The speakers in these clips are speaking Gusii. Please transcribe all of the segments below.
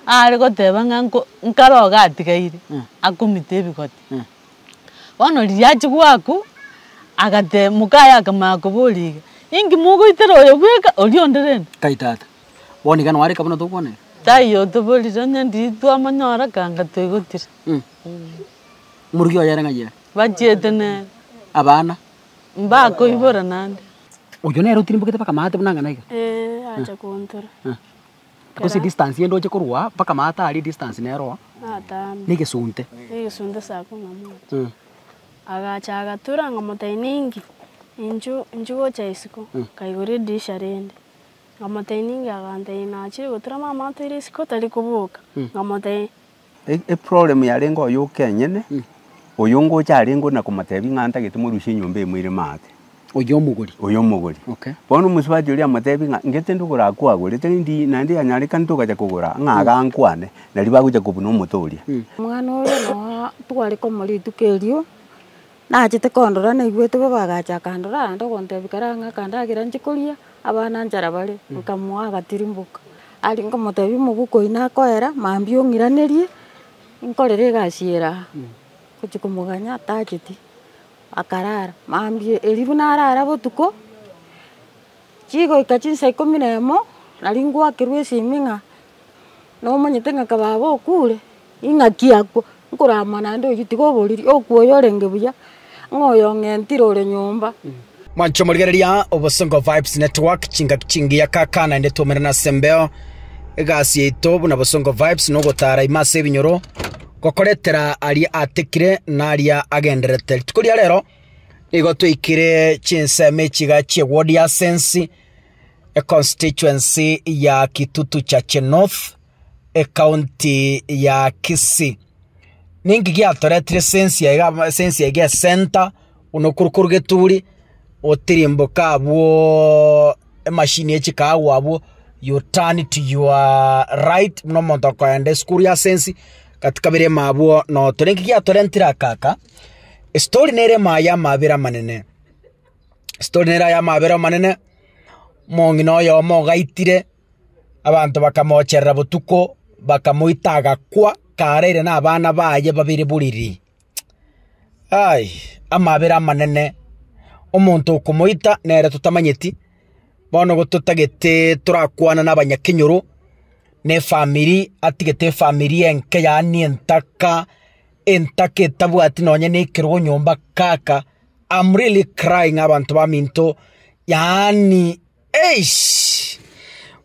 Aare goteba ng'a nko nkare oga atigaire, akomita ebigoti. Bono riria achia goakwa, agateba mokaye akamanya koboria iga, Inki mogoitera oyo bweka, oria onde rende? Kai tata. Bono iga noareka buna tokwana iga. Taiyo otoborire onye ndiri twamonyora aka anga toigotire. Morugi oye ere ng'a yee. Bachiete nere. Abana. Mbakoibora naende. Oyio nere otirimboke bakamate buna ang'ana iga. Ee acha koontora. Gose distance ye ndoche korwa aa mpaka maata aria distance nero na egesunte. Egesunte ase ako ng'a moche. Agacha agatura ng'a motaina inki, inchu inchu gocha isiko. Nkaigora edirisha rende, ng'a motaina inki, agantebi nachirie gotura mama atoire isiko tari koboka. Ng'a motaina. Eproblem yarenge oye okenyene, oyo ngocha arenge ona komotebia ng'a ntagete morusie enyomba eye moire maate, Oyo omogori. oyo omogori. Okay. Bono omosubati oria amotebia ng'a ngete ndogora akwagorete rindi naende yanyarekana togacha kogora ng'a iga ankwane, nario bagocha kobuna omote oria. Omwana oria noo tware komorua rituko erio. Nachete kondora naigwete bobe agacha akandora aande ogontebia kare ang'e akandagera nche koria abana nchara bare, nkamoa agatirimboka. Aria nkomotebia omobuko oyi nakoera mambia ong'iranerie nkorere egasi ere aa. Ngochia komoganya tacheti, akarara mambia erio buna arara botuko, chigoika chinsa ikomi na emo, naria ngoakerwa esimi ng'a nomanyete ng'a ka baba okure, ing'aki akwo, nkorama naende oyio tiga oboriri, okwo oyo orenge buya, ng'a oyo ong'entire ore nyomba. Mwancho morigereria obosongo vibes network chingaki chingiya kaka naende twaumerana ase embeo egasi yaito buna bosongo vibes na ogotara ime ase ebinyoro gokoretera aria atekire na aria agendererete rituko ria rero nigo twaikire chinsemo echiga chie word ya sense econstituency ya Kitutu Chache North, ecounty ya Kisii. Ninki giatoretire sense eye iga amo sense eye iga esenta buna okoru koru geturi, otirimboka abwo emachine ya chikago abwo, you turn to your right buna omonto okoenda esukuru ya sense, gati kabere ime abwo noto. Ninki giatorentire aka aka, estory nere ime aye amabera amanene. Story nere aya amabera amanene, omong'ina oyomo ogaitire, abanto bakamocherera botuko, bakamoita agakwa karaire na abana baye babere boriri. Ai amabera amanene, omonto okomoita nere totamanyeti, bono igo totagete torakwane na abanyakenyoro, na efamiri, atigete efamiri enke yaani entaka, entaka etabwati nonye na ekerogo nyomba kaka, I'm really crying abanto baminto yaani eish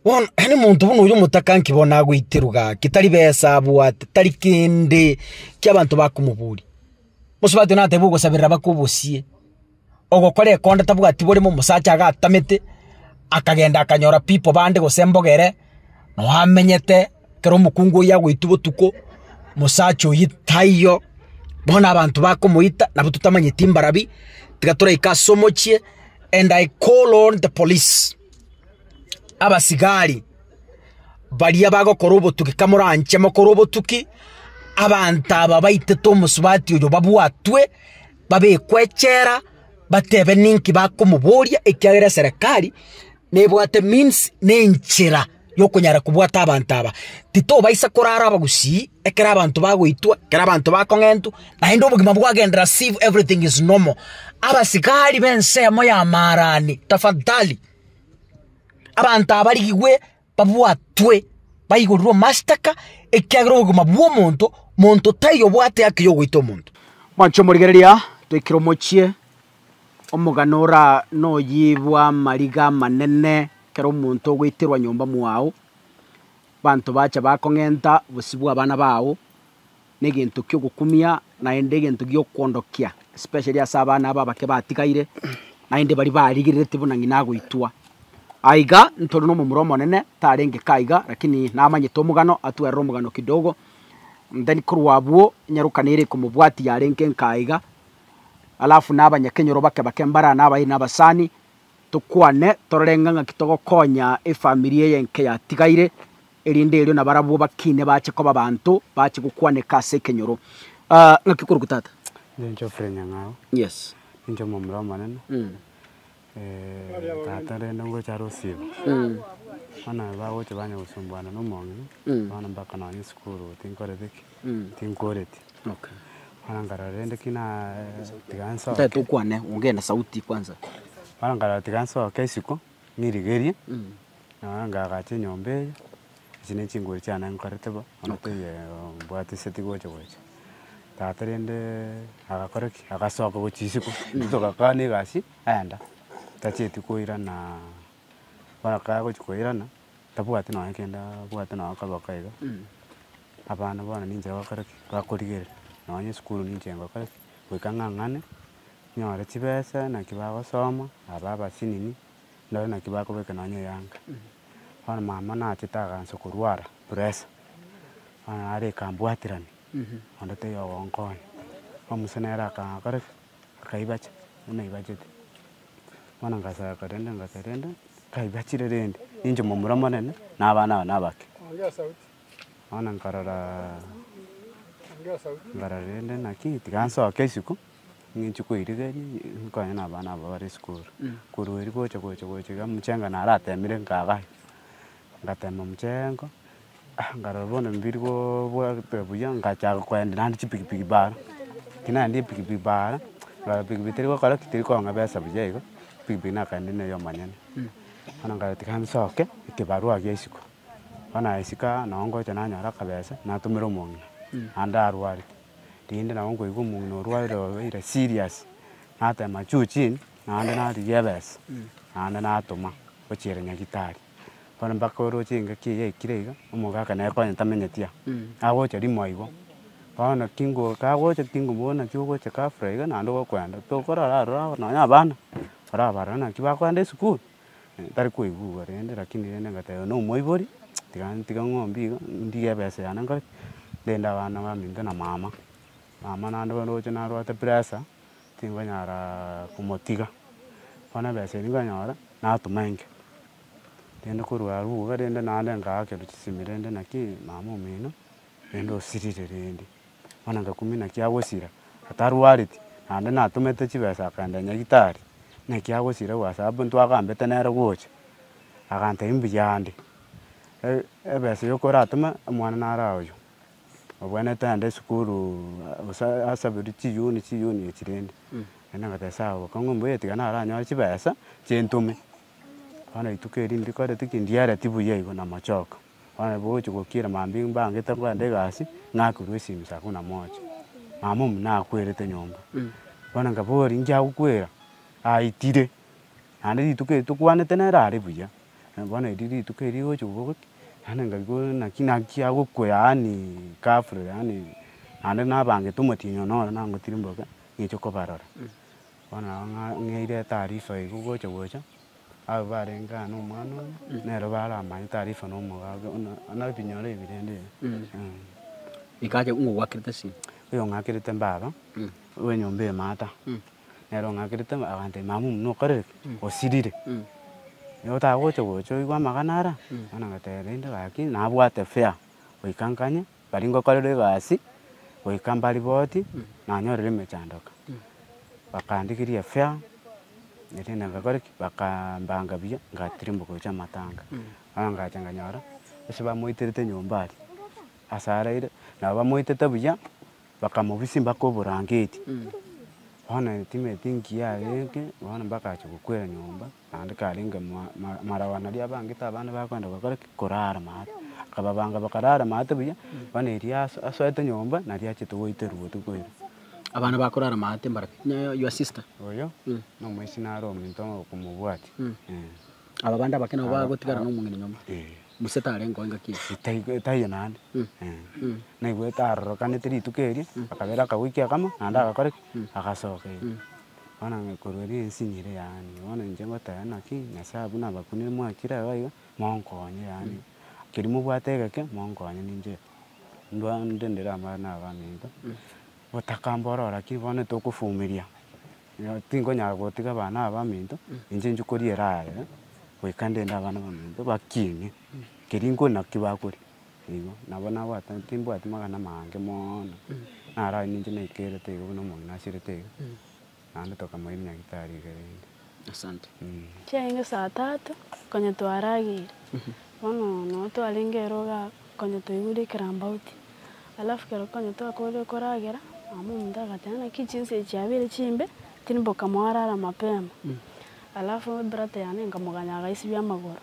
bono yaani omonto buna oyo omotakanki bono nagoiterwa gaki tari besa abwate tari kende ki abanto bakomoboria bosubete oteba nateba ogosaberera mpaka obosie ogokora ekonda tabwati borimo omosacha iga atamete akagenda akanyora people bande gose mbogere noo amenyete. Ekero omokungu oyio agoitwa botuko, mosacha oyio taiyo, bono abanto bakomoita nabo totamanyeti mbarabi, tiga toraike ase omochie and I call on the police, abasigari baria bagokora obotuki kamoranche mokore obotuki, abanto aba baitete omosubati oyo babwatwe, babekwe echela, batebe ninki bakomoboria ekiagera eserekari nebwate means na enchera. yokonyara kobwata abanto aba, titobaisa korara abagusii ekero abanto bagoitwa, ekero abanto bakong'entwa, naende obogima bwagenderera as if everything is normal. Abasigari b'ensemo ya Maarani, tafadhali, abanto aba barigigwe babwatwe, baigorirwe amastaka, ekiagera obogima bw'omonto, monto taiyo obwate haki yogoita omonto. Mwanche omorigereria, toikire omochie, Omogano oraa noyio bw'amariga amanene, ekero omonto ogoiterwa nyomba mwao, abanto bacha bakong'enta bosibwa abana bao, negento ki'ogokumia naende egento gi'okoondokia, especially ase abana aba abake batigaire, naende baria barigerereti buna ng'ina agoitwa. Aiga ntori nomomura omonene, tarenge ka iga, rakini namanyete omogano, atwerire omogano kidogo, and then korwa abwo, enyaroka nere komobwatia yarenge nka iga. alafu na abanyakenyoro bake bake mbara na abairi na abasani, tokwane torore ng'a ng'aki togokonya efamiri eye enke yatigaire, erinde erio na barabwo bakine bache koba abanto bache gokwaneka ase ekenyoro. Ng'aki okorokwa tata? Inche Geoffrey Nyang'ao. Yes. Ninche omomura omonene. Mm. tata rende ngocha rosibo, bono bagocha banya gosumbuana na omong'ina, bono mpaka nonye esukuru tinkoreti ki, tinkooreti. Bono nkarora rende ki na tiga nsoke. Ntaete okwane, ongee na sauti kwanza. Bono nkarora tiga nsoke isiko, ng'irigerie, nonye ngagache enyomba eye. Echi ne chinguru chiane nkorete bo, bono teiyo mbwate ase tigocha gocha. Tata rende agakora ki? Agasoka gochia isiko, intwe togakana egasi, aenda. Tacheti koirana, bono ekero agochia koirana, tabwati nonye kende abwate nonye kaboko iga, abana bono ninche bagokora ki? Bakorigerera. Nonye esukuru ninche ngokora ki? Goika ng'ang'ane, nyore chibesa, naki bagosoma, aba abasinini, ndore naki bakobeka nonye eyanga. Bono mama nachete agansa korwara pressure, bono nare ekambwaterani onde taiyo ogonkonya. Omisa nere akagora ki? Akaibacha buna aibachete. Bono ngasaka rende ngasaka rende, kaibachire rende, ninche momura omonene na abana aba nabake. Bono nkaroraa nkarora rende naki tiga nsoke isiko. Ng'enche koirigeria nkonye na abana aba bare esukuru, korwa erio gocha gocha gocha iga omochengo naratemire nkagaya, ngatema omochengo nkarora bono mbiri gobwate buya ngachaka koenda naende chipikipiki bar, ekero naendire epikipiki bar, nkarora pikipiki teri gokora ki, teri kong'a besa buya igo, pikipiki nakaenda na eyo omonyene. Bono nkarora tiga nsoke ekebarua gia isiko, bono nagesikaa, nonye ngocha nanyora akabesa, natomera omong'ina, naende arwarete. rinde nabo nkoigwa omong'ina orwarire obeire serious, nateema juu chini, naende narigia ebesa, naende natoma gochia ere nyagitari. Bono mpaka oroche engaki eye yaikire iga, omogaka nere konya tamenyeti aa, agocha rimo aigo, bono kingo kagocha tingomobori naki ogocha ghafla iga naende ogokwenda, tokorara aroro nonye abana, orabarore naki bakoenda esukuru. tari koigugwa rende rakini rende ngateba na omoibori, tiga ntige ng'ombe iga, ndige ebesa yane nkore ki? Ndinde abana baminto na mama, mama naende bono roche narwate pressure, tinkonyara komotiga, bono ebesa eria nkanyora, natoma enke, rende korwa arwo iga rende naende ngaakera chisemi rende naki mama omino, rende osirire rende. Bono nkakumina ekiagosira, atarwareti, naende natomete chibesa akaenda Nyagetari, na ekiagosira ua saabbu ntwagambete nere gocha. Agantebia mbuya ande, e- ebesa eyo koratome omwana nare oyo, obwenerete aende esukuru gose asabirwe chiyuni chiyuni echi rende. Naende ngateba sawa bokong'u mbuya tiga naranyore chibesa, chintome. Bono rituko eri ndikoreti ki, ndiereti buya igo namochoka. Bono nabo ogochia gokira mambia mbangete kogenda egasi, ng'akirwe esimi saa kumi na moja, mama omu nakwerete nyomba. Bono nkaboria nchia gokwera, aitire, naende rituko eri tokwanete nere are buya, bono eri rituko eri rigochia kobua gokĩ, naende nkaigwa naki naki agokwa yaani ghafla yaani naende nabangete omotienyi one ore nangotire mboka, ng'eche kobarora. Bono nabo ng'a ng'eire etaarifa eria gocha gocha. Abwo barenge aa nomwana oyo, nero baramanye taarifa na omogabe ona, onare binyore ebi rende iga eeh. Ikache ng'a ogwakerete ase. Oyo ong'akerete mbaba, bw'enyomba eye maata, nere ong'akerete mba agantebia mama omino okorire ki? Osirire. Igo otagocha gocha oigwe amagana ara, bono agateba rende gaki nabwate fare, goika nkanye. Baria ngokorerwa egasi goika mbariboti nanyorire emechandoka. Bakandigiria efea, erinde ngakore ki? Bakambanga buya ngatirimboka gochia amatanga. Bono ngacha nganyora gose bamoiterete nyomba aria ase araire, nabo bamoitete buya, bakamobisia mpaka oborangeti. Bono etimeti engiya aria eke, bono mpaka acha gokwera nyomba. Naende karenge marau ana aria abange taba nibakoenda gokora ki? Korara maate. Akababanga bakarara maate buya, bono erio asoete nyomba nario achete goiterwa botuko ere. Abana bakorara maate mbare pi? Nonya your sister. Oyo, na omoiseke naro omonto okomobwati. Aba bande abake nabo bagotigara na omong'ina nyomba. Gose tarengeo engaki eria. Taiyo naende. Naigwete arorokanete rituko erio, akabera akagoikia kamo, naende agakora ki? Agasoka. Bono onye korweri ense nere yaani, bono inche ngoteba naki, Nyasae abwo nabakunire mwakire agwo iga, monkonye yaani, keri mobwate egeke, monkonye ninche ndwa inde ndere amo na abanto, gotaka mboro oo lakini bono tokofumiria, nyo tinkonyara gotiga abana aba baminto, inche inche koriera aye, goika ndinde abana baminto bakiine, keri nko naki bakoria. Igo, nabo nabwate, timbwati magana amange mono, naro aye ninche naikerete igo buna omogina asirete iga, naende tokamoira nyagitari iga rende. Asante. Chiaenge saa tatu, konya twarageire, bono nabo twarenge ere iga konya toigure ekerambauti. Alafu ekero konya twakoorire koragera, mama omonto agateba naki chinsa echi chiabeire chimbe, tiri mboka moarara mapema. Alafu ebrata yane nkamoganya agaisibia amagoro.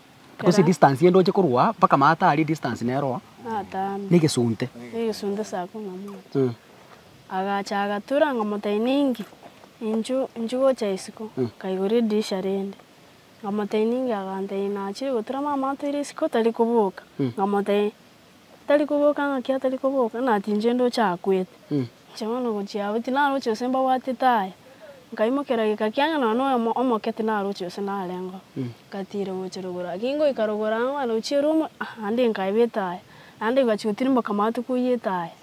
Gose distance ye ndoche korwa aa mpaka maata aria distance nero na egesunte. Egesunte ase ako ng'amoche. Agacha agatura ng'omotebi ninki inchu inchu gocha isiko. Nkaigora edirisha rende. Ng'omotebi ninki agantebi nachire gotura mama otoire isiko tari koboka. Ng'omotebi. Tari koboka ng'aki atari koboka, nati inche ndoche akwete. Inche bono gochia abwo tinaroche gose mbabwatete aya. Nkaimokera geka kiang'ina nonya noyomo omoke tinaroche gose narengeo. Nkatiira gochia rogoro. Gaki ngoika rogoro ang'e mwane gochia erumu, naende nkaebete aya. Naende bachia gotirimboka amato koiyete aya.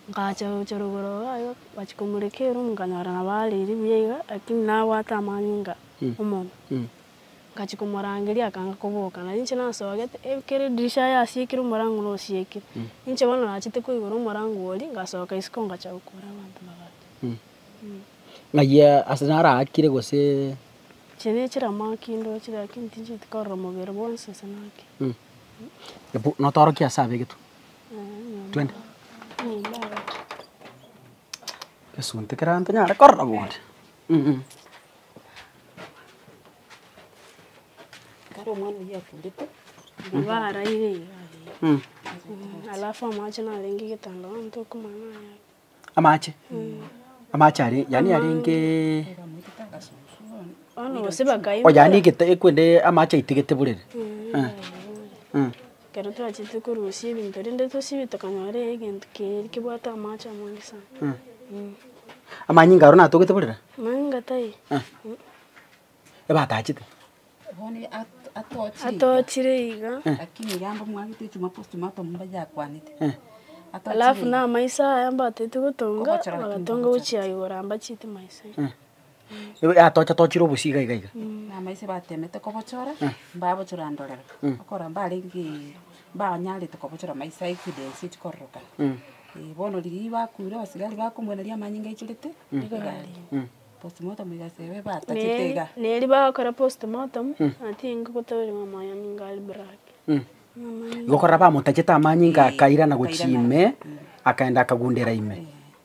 Nkacha gochia rogoro iga iga, bachia komoreka erumu nkanyora nabo areiri buya iga, lakini nabwate amanyinga omonwa. Ngachia komorangeria akanga koboka, na inche nasogete ekero edirisha aye asiekire omorango nosiekire. Inche bono nachete koigora omorango oria, ngasoka isiko ngachaka gokora abanto bagacha. Ng'ai ase naraakire gose? Inche nechiramaaki ndochire lakini tincheti korora mobere bwonsi ase naaki. Hebu notorokie ase abwo egetu. Twende. Egesunte kere aye ntonyare korora boria. Amache? Amache are yaani arenge oh yaani egete ekwende amache aitigete borere? Eh. Ekero twachete korusia ebinto rende tosibe tokanyora egento keria kebwate amache amange sana. Amanyinga aro natogete borere? Amanyinga tai. Ebatachete? Bono atochire iga. Atochire iga. Lakini iga mbo mwagete chimwaga ase chimwaga atomu mbaye akwanete. Alafu na amaiso aya mbatete gotonga, bagatonga gochia igoro amba chitima ase. Nigo yatocha tochire obosie iga iga iga. Namaiche batemete kobochora, mbabochora ndorere, okora mbarenge mbanyarete kobochora maiche aye chidense chikororokana. Ee bono riria bakuire abasigari bakomoira riria amanyinga aichorete, nigo yarenge. Postmortem egasi ebe batachete iga. Na erio bagokora postmortem, ati enga gotoirwa amanyinga aria black. Igo korora bamotachete amanyinga akairana gochia ime, akaenda akagundera ime.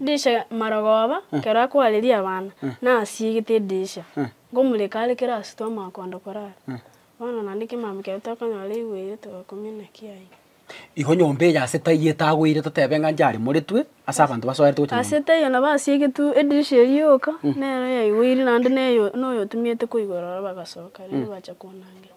Dirisha Marogoba kero akoareria abana, nasiegete edirisha, ngomureka are kero ase twamanya koenda korara. Bono naende kemama kiaito tokonyora igweire togakumia naki aye. Igo nyomba eye ase taiyo etagweire totebe ng'a ncharemoretwe ase abanto basoete gocha nyomba. Ase taiyo nabo asiegetwe edirisha eria yoka, nero yaigweire naende neyo noyotumiete koigora ororo bagasoka, riria bacha konangerwa.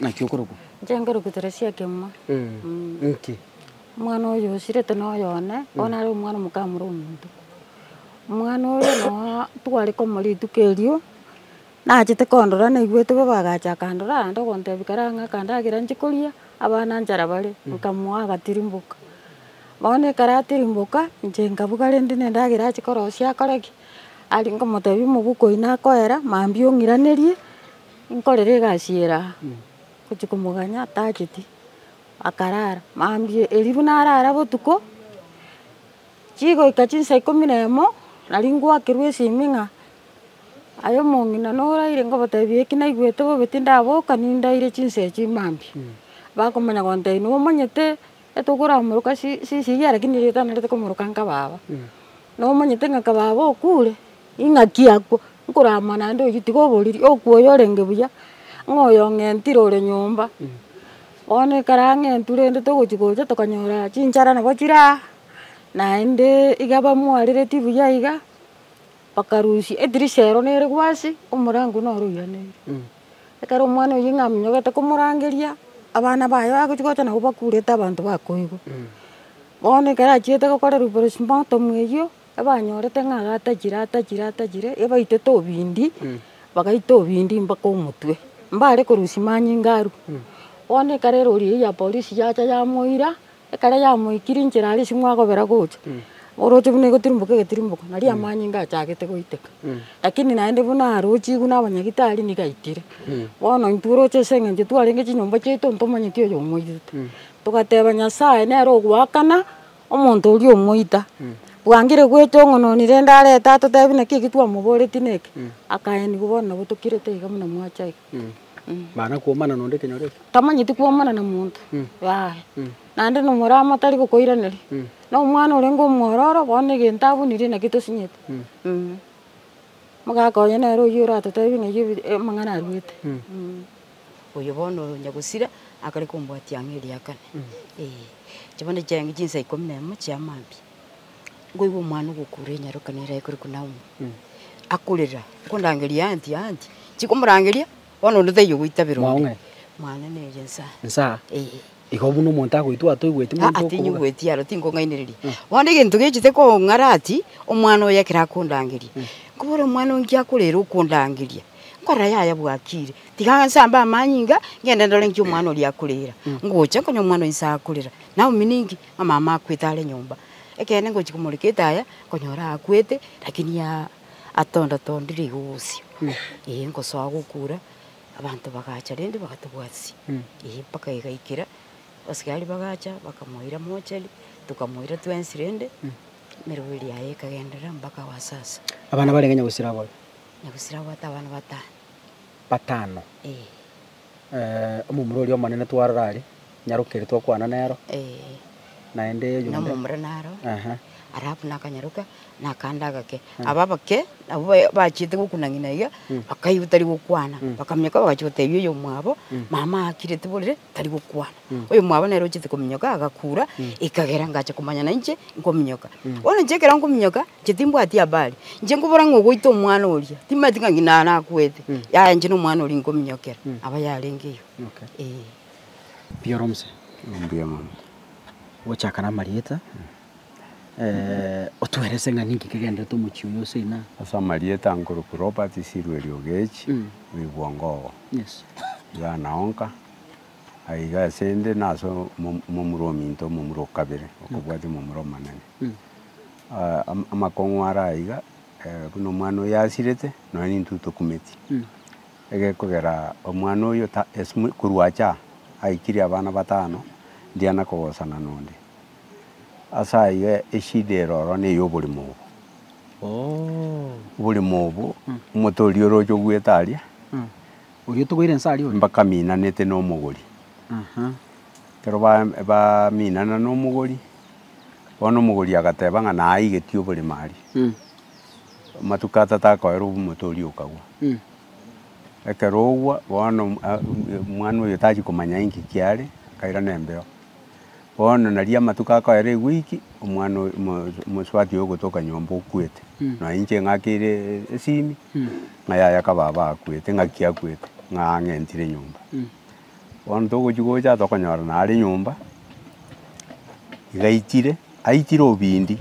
Naki okorokwa? Inche nkorokwa Teresia Kemwa. Inki? Omwana oyo osirete noyo one, bono nare omwana omokamua ore omonto. Omwana oyo nooo tware komo rituko erio, nachete kondora naigwete bobe agacha akandora ande ogontebia karaa ng'a aka ndagera nchi koria, abana nchara bare, nkamoa agatirimboka. Bono ekero atirimboka, inche nkabuga rende na endagera achi korosia akore ki? Aria nkomotebia omobe okoina akoera, mambia ong'iranerie. Nkorera egasi eye raa, gochia komoganya atacheti, akarara mambia erio buna arara botuko, chigoika chinsa ikomi na emo, naria ngoakerwa esimi ng'a aye omong'ina noraire ngotebia eki naigwete bobe tindaboka nindaire chinsa echio mambia, bakomanya gontebia nigo omanyete. Etokoramoroka sisiria lakini ritanarete komoroka ng'a baba. Nomonyete ng'a kababa okure, ing'aki akwo, nkorama naende oyio tiga oboriri, okwo oyo orenge buya, ng'a oyo ong'entire ore nyomba. Bono ekero ang'entu rende togochia gocha tokanyora chinchara nabo chire aa, naende iga bamwarereti buya iga. Bakarusia edirisha ero nere gwasi, omorango noro oiraneirwe. Ekero omwana oyio ng'a amenyogete komorangeria, abana baye bagochia gocha nabo bakurete abanto bakoigwa. Bono ekero achiete gokorerwa postmortem eyio, ebanyorete ng'a aratachire atachire atachire, ebaitete obindi, bagaita obindi mpaka omotwe. Mbare korusia manyinga arwe. Bono ekero erori eyio ya polisi yacha yamoira, Ekero yamoikire inchera aria ase mwakobera gocha, oroche buna egotirimboka egetirimboko, nari amanyinga achagete goiteka. Lakini naende buna arochigwe na abanyagitari nigo aitire. Bono intwe oroche ase eng'encho twarenge chinyomba chiaito ntomanyeti oyo omoirete. Togateba Nyasaye nere ogoakana omonto oria omoita. Bwangire goeta ong'ononi rende arete atotebi naki eki twamoboreti neke, akaeniwa bono nabo tokirete iga buna mwacha iga. Mana kwomana nonde ekenyoro eke. Tamanyeti kwomana na monto yaya. Naende na omorama tari gokoiraneria. Na omwana orenge omwororo bono egento abunirie naki tosinyeti. Omogaka oye nere oyio oratotebie ng'a eyio amang'ana aruete. Oyo bono oyo Nyagosira akare kombwatia ang'e riakane. Eeh. Echio bono chiaye chinsa ikomi na emo chia mambia. Nkoigwa omwana ogokura enyaroka nere ayekorokwa Naomi, akorera, Nkondangerie anti, anti. Chikomorangeria, bono onde taiyo goitabera onde. Mwaong'e. Mwane nere nsa. Nsa, Eh. igo buna omonto agoitwa atoigweti monto Aa, okobuga. tinyigweti aro tingong'ainereria. Bono egento gechete kong'ara ati, omwana oyo ekero akondangeria, nkobora omwana oyo nkia akorere okondangeria, nkorora yaya bwakire, tiga nse ambe amanyinga, ngende ndore nki omwana oria akorera. Ngocha, nkonya omwana oyo nse akorera. Naomi ninki? Amama akwete are nyomba. Ekeene ngochia komoreka etaya, nkonyora akwete, rakini atonda tondire igo bosio, eh, ngosoa gokura, abanto bagacha rende bagatobwatisia, eh, mpaka egaikera, abasigari bagacha bakamoira mochari, tokamoira twensi rende, emeroberi yaye ekagenderera mpaka wa sasa. Abana barenge Nyagusira abwo? Nyagusira abwate abana batano. Batano. Eh. Omomura oria omonene twarora are, nyarokeire twakwana nero, naende oyonde. Na omomura naro, alafu nakanyaroka, nakanda agake. Aba abake nabwo bachiete gokuna ng'ina iga, bakaigwa tari gokwana, bakaminyoka bagacha gotebia oyomwabo, mama akire tiborire, tari gokwana. Oyomwabo nere ochiete kominyoka agakura, ekagera ngacha komanya nainche nkominyoka. Bono inche ekero nkominyoka, Inche timbwati abare, inche nkobora ng'a ogoita omwana oria, timbati ng'a ng'ina naro akwete, yaya inche nomwana oria nkominyokera aba yarenge iga, eh. Mbuya oro mosee. Mbuya mono. Gochaka namarieta, otwerese ng'a ninki kegenderete omochie oyo ase ina? Ase amarieta nkorokwa Robert Sirweri Ogechi, o Igwongogo. Yes. Iga nao nka, aye iga asende nase omomura ominto, omomura o kabere, okobwatia omomura omonene. amakong'u are aiga, buna omwana oyo asirete, nonya nintwe tokumeti. Egekogera omwana oyo ta ase mo korwa acha aa, aikire abana batano, ndiana kogosana nonde. Ase aiga eshida ere ororo na eyo oborimo obo. Oborimo obo, omonto oria oroche ogoeta aria, Oria otogoire inse aria oria. mpaka aminanete na omogori. Ekero ba- baminana na omogori. Bono omogori agateba ng'a naaigetie oborimo aria. Amatuko atato akoerwa omote oria okagwa. Ekero ogwa bono omwana oyo tachia komanya inki kiare, akairana embeo. Bono naria amatuko akoera ewiki, omwana oyo omosubati ogotoka nyomba okwete. Nonya inche ng'akire esimi, ng'a yaya kababa akwete, ng'aki akwete, ng'a ang'entire nyomba. Bono togochia gocha tokonyorana are nyomba, igaichire, aichire obindi,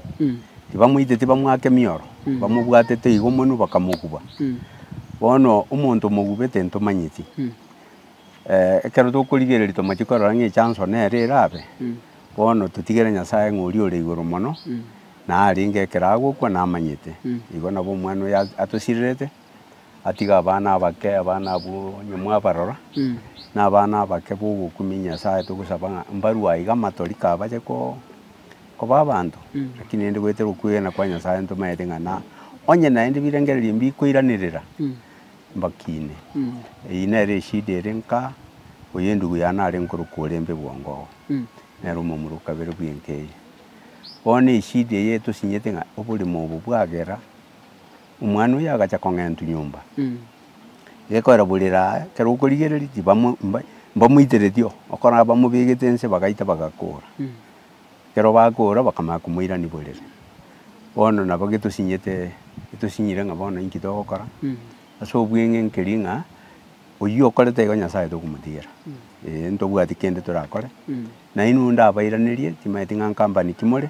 tibamoite tibamwake mioro, bamobwatete igo monwe bakamokuba. Bono omonto omogubete ntomanyeti, ekero tokorigereria tomanyeti korora ng'a echanso nere erabe, bono totigere Nyasaye ng'a oria ore igoro mono, narenge ekero agokwa namanyete. Igo nabo omwana oyo atosirerete. atiga abana abake, abana abwo onye mwabarora, nabana abake bogokumia Nyasaye, togosaba ng'a mbarwe aiga amatori kabache ko- koba abanto, lakini rende goetera okwegena kwa Nyasaye ntomanyete ng'a na onye naende birengererio mbikoiranerera, mbakine. Eyio nere eshida ere nka, oyo endugu yane are nkorokwo orembe bwango oo, nere omomura o kabere bw'enka eye. Bono eshida eye etosinyete ng'a oborimo obo bwagera. Omwana oyo agacha kong'entwa nyomba, gekorera borere aa, ekero okorigereria tibamo mba mbamoitereti oo, okora bamobegete ense bagaita bagakora. Ekero bakora bakamanya komoirania borere. Bono nabo getosinyete getosinyire ng'a bono inki togokora, ase obweng'e nkeri ng'a oyio okorete igo Nyasaye tokomotigera, eeh ntobwati kende torakore, nainwe onde abairanerie, timanyeti ng'a nkampani ki more.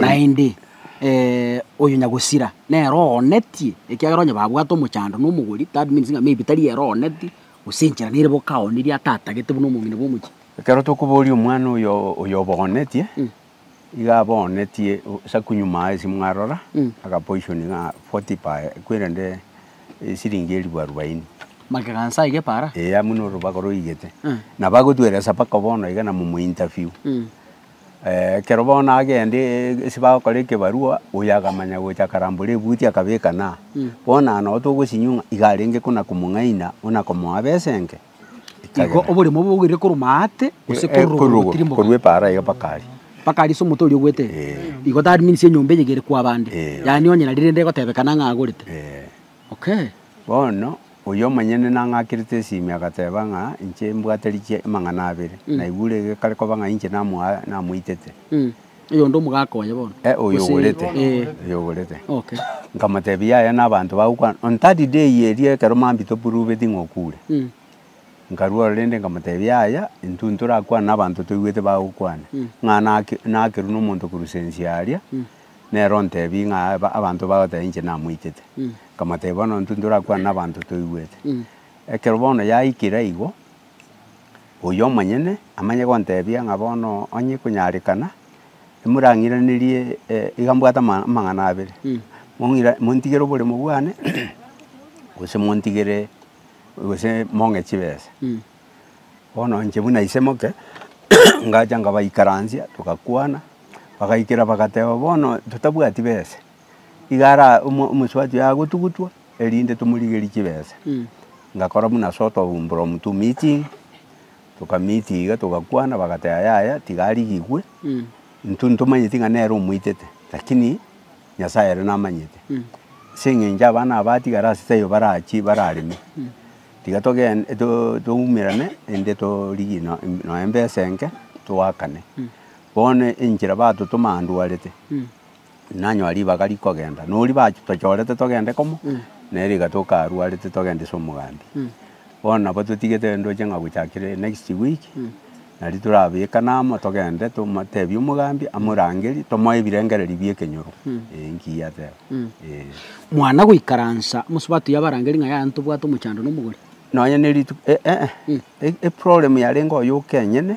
Naende oyo nyagosira nere oonetie, ekiagera onye babwate omochando na omogori, that means ng'a maybe tari ere ooneti, gose enchera nere boka aoonetie atatagete buna omong'ina bw'omochie. Ekero tokoboria omwana oyo oyoboonetie, iga aboonetie esaku nyuma aye simwarora, agapoishoni ng'a forty per kwerende esiringi elifu arubaini. Magega a Nyasaye iga epaara? Eeh, abwo norobaga roigete. Nabo agotweresa mpaka bono iga na momo interview. Ekero bono agende ase bagokora ekebarua, oyo akamanya gocha akarambora ebuti akabeka na aa. Bono aya nabo togosinywa ng'a iga arenge kona komong'aina ona komoa besa enke. Igo oborimo obo bogoirire korwa aate gose korwa igoro gotiria mbobe. Korwa epaara iga mpaka aria. Mpaka aria ase omonto oria ogoeta eye. Igo that means enyomba eyige ere kwa abande. Yaani onye nari rende egotebekana ng'a agorete. Bono, oyio omonyene nang'akerete esimi, agateba ng'a, Inche mbwate rikia amang'ana abere, naigure gekare koba ng'a inche namoitete. Oyonde omogaka oye bono? Ee, oyo ogorete, oyo ogorete. Nkamotebia, Yaya nabanto bagokwana, on third day eria ekero mambia topruveti ng'a okure. Nkarua ororo rende nkamotebia, Yaya, intwe ntorakwane nabanto toigwete bagokwana, ng'a nakerwa nomonto korwa sense aria, Nere ontebie ng'a abanto bagoteba inche namoitete. Nkamotebia bono intwe ntorakwane nabanto toigwete. Ekero bono yaikire aigo, oyio omonyene amanye gontebia ng'a bono onye konyarekana, imorang'iranerie iga mbwate ama- amang'ana abere. Mong'ira montigere oboremo bwane, gose montigere gose mong'e chibesa. Bono inche buna ise moke, ngacha nkabaikaransia, togakwana, bagaikera bagateba, bono totabwati besa, iga ara omo- omosubati oye agotugutwa, erinde tomorigerie chibesa. Ngakora buna ase otoumbora omotu meeting, toka meeting iga togakwana, bagateba yaya tiga arigigwe, intwe ntomanyeti ng'a nere omoitete, lakini Nyasaye ere namanyete. Ase eng'encho abana aba atigare ase taiyo barachie barareme. Tiga togende toumerane inde torigie nonya embesa enke toakane. Bono enchera batotoma andwarete nanyora ribaga rikogenda na oria batochorete togende komo nere iga toka arwarete togende ase omogambi. Bono nabo totigete ndoche ng'a gochakere next week. Nari torabekane amo, togende, tomoteebie omogambi amorangerie, tomoe ebirengererio bi'ekenyoro. Ee, inki yateba? Ee. Mwana goikaransa amo Sabato y'abarangeri ng'a yaya ntobwate omochando na omogori? Nonya ne rituko, e, ee, e, eproblem yarenge oyo oke enyene,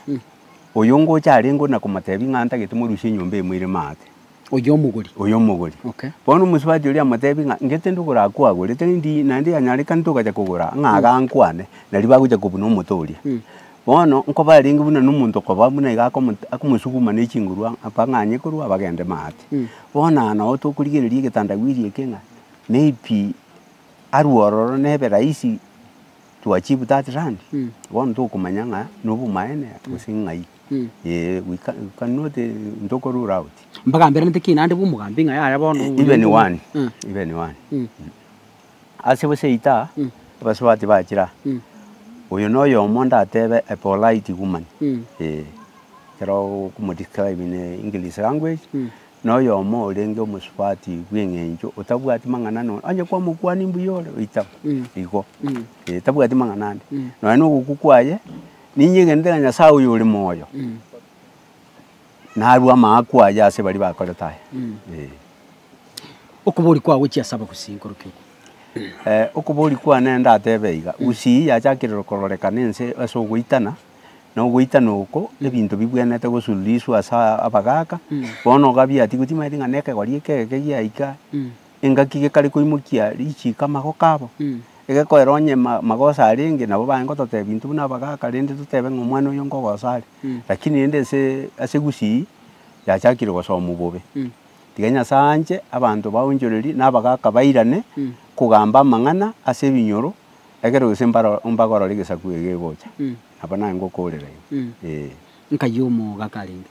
oyo ngocha arenge ona komoteebia ng'a ntagete morusie enyomba eye moire maate. Oyio omogori. oyio omogori. Okay. Bono omosubati oria amotebi ng'a inche tindi okorakwagore, tindi naende yanyarekane togacha kogora ng'a iga ankwane, nario bagocha kobuna omote oria. Mm. Bono nkoba arenge buna na omonto okoba buna iga akomote akomosuguma na echinguru ang' apa ng'a anye korwa abagende maate. Mm. Bono aya nabo tokorigereria egetandawiri eke ng'a maybe arwe ororo nebe rahisi to achieve that land, Mm. bono tokomanya ng'a nobomaene gose ng'ai. Ee, we can, you cannot, eh, ntoko rule out. Mbagamberanete ki naende bw'omogambi ng'a yaya bono E- oyo Even ntomo- one, Mm, even one. mm, Ase gose ita, Mm. abasubati bachira, mm, oyo noyomo ndatebe a polite woman. mm, Eh, ekero okomodescribe in eh, English language, mm. noyomo orenge omosubati bw'eng'encho otabwati mang'ana no, onye kwamokwania mbuya ore, oitaba, Mm. igo. Mm. Eh, tabwati mang'ana ande. Mm. Nonya nogokwa kwaye, Ninye egenderera Nyasae oyore moyo, narue amaakwa aye ase baria bakorete aya. Eh. Okobori kwao gochia ase abagusii nkoro ki oko? Eh, okobori kwane ndatebe iga, gusii yachakire kororekana ense ase ogoitana, na ogoitana oko ebinto bibwenerete gosururiswa ase abagaaka, bono ogabiatigwe timaeti ng'a na ekegori eke egeke giaika, engaki gekare koimokia richiiko amagoko abo, egekoera onye ma- magoso arenge nabo baye ngototebia intwe buna abagaka rende totebe ng'a omwana oyo nkogoso are. Rakini rende ase ase gusii, yachakire gosomwa bobe. Tiga Nyasae anche abanto baonchorerie na abagaka bairane kogamba amang'ana ase ebinyoro ekero gese mbaro mbagorore egesaku ege egegocha. Nabo naye ngokoorera igo, eeh. Nkai omoogaka arenge.